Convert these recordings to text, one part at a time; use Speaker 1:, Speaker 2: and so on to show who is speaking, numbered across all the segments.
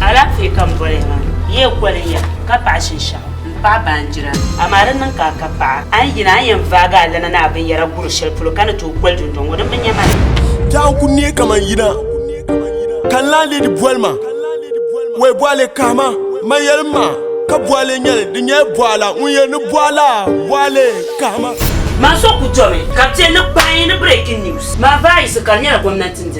Speaker 1: Alaafee ka n boli ya maa. Yi yɛn koli ya ka paɣi shinshɛɣu, m paɣi baanjira ni. Amaa di niŋ ka a ka paɣa. A ni yina a ni yɛn vaagi alana ni a binyɛra guri shɛli polo ka ni tooi koli dundɔŋ ŋɔ. Di mi nya ma ni. Daa n ku neei
Speaker 2: kaman yina ka n lahi leedi boli ma. Wei bɔɣa le kahi ma, ma yɛlim ma ka bɔɣa le nyɛli, di nyɛla bɔɣa la ŋun yɛli ni bɔɣa la, bɔɣa le kahi ma. Maa so ku
Speaker 1: domi ka bɛ ti ni kpaai ni breaking news. Maa vaayisi ka di nyɛla gomnanti n-diri.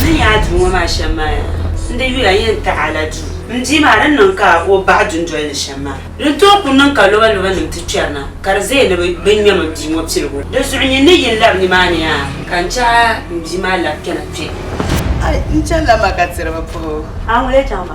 Speaker 3: Zuliya
Speaker 1: duu ŋɔ maa shɛm maa yaa, n di yuya yɛn taɣi a la duu. M bia maa, di ni niŋ ka o baɣi dundoli ni shɛm maa? Di ni tooi kuli niŋ ka lɔbalobanim ti kpɛri na, ka di zaya ni bɛ ŋmɛm m bia ŋɔ piligu na. Di zuɣu nyin ni yi ni labi nimaani yaa, ka n chɛ a m bia maa labi kpɛna kpe. N
Speaker 4: chanila ma ka tiri bi puhi o.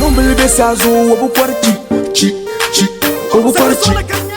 Speaker 2: Lumbili be saazuɣu o bi kɔri chi chi chi o bi kɔri chi.